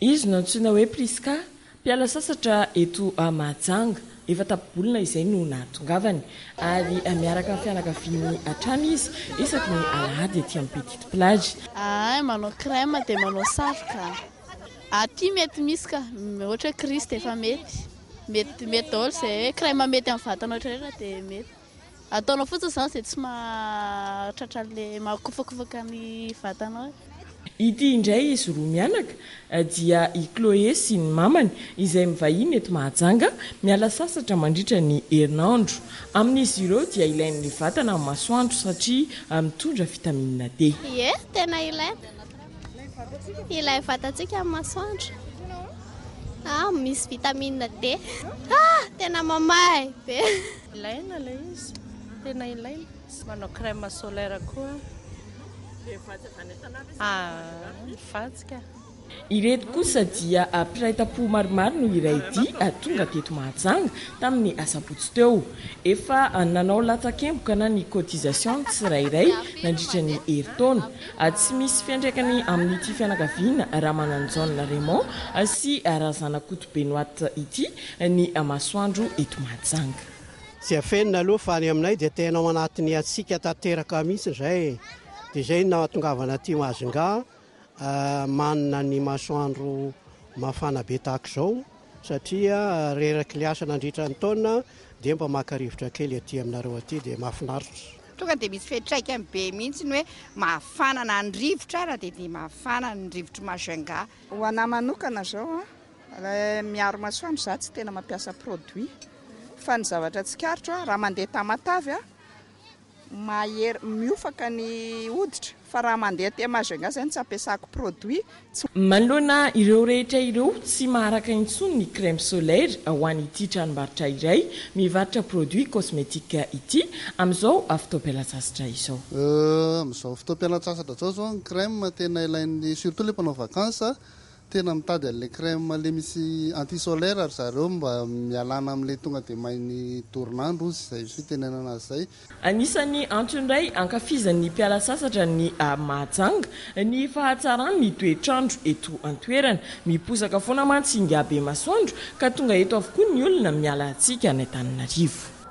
Izy no antsoina hoe Prisca, mpiala sasatra eto Mahajanga. Efa tapibolona izay no nahatongavany, ary miaraka amin'ny fianakaviany hatrany izy isaky ny alahady ety amin'ny Petite Plage. Ahay manao crème dia manao satroka. Aty mety misy ka, ohatra hoe Christ efa mety. Mety mety daholo izay hoe crème mety amin'ny vatana rehetra dia mety. Ataonao fotsiny izany izay tsy mahatratra an'ilay mahakofakofaka ny vatanao e. Ity indray izy roa mianaka dia i Chloé sy ny mamany izay mivahiny eto Mahajanga miala sasatra mandritra ny herinandro. Amin'izy ireo dia ilain'ny vatana ny masoandro satria mitondra vitamine D. Ie, tena ilaina ilay vatantsika amin'ny masoandro ah misy vitamine D ah tena mamahay be. Ilaina ilay izy, tena ilaina. Manao crème solaire koa. Dia vadiaka any an-tanàna ve sa vadiaka any? Vadiaka. Ireto kosa dia mpiray tampo maromaro no iray dia tonga teto Mahajanga tamin'ny asabotsy teo. Efa nanao latsakemboka na ny cotisation ny tsirairay nandritra ny herintaona. Tsy misy fiantraikany amin'ity fianakaviana Ramananjaona Raymond sy Razanakoto Benoît ity ny masoandro eto Mahajanga. Tsy afenina aloha fa ny aminay dia tena ao anatin'ny hatsiaka tanteraka mihitsy izay e. Dia izay no nahatongavana aty Majunga manana ny masoandro mafana be tahaka izao satria reraky ny asa nandritra ny taona dia mba maka rivotra kely aty aminareo aty dia mahafinaritra. Tonga dia misy fiantraikany be mihitsy ny hoe mafana na ny rivotra ara dia dia mafana ny rivotry Majunga. Ho anah manokana izao a, Miaro masoandro za tsy tena mampiasa produit fa ny zavatra tsikaritro a raha mandeha tamatave a mahery miofaka ny hoditra fa raha mandeha aty Majunga zay no tsy ampiasako produit tsy Manoloana ireo rehetra ireo, tsy maharaka intsony ny crème solaire ho an'ity tranombarotra iray mivarotra produits cosmétiques ity, amin'izao fotoam-pialantsasatra izao. Amin'izao fotoam-pialantsasatra izao izao ny crème tena ilain'ny, surtout ilay mpanao vacances, Tena mitady an'ilay crème ilay misy anti solaire ry zareo mba mialana amin'ilay tonga dia main'ny dorin'andro hozy izay fitenenana azy izay. Anisan'ny antony iray ankafizan'ny mpiala sasatra any Mahajanga ny fahatsaran'ny toetr'andro eto an-toerana. Miposaka foana mantsy ingahy Bemasoandro ka tonga eto avokoa ny olona miala tsika any Antananarivo.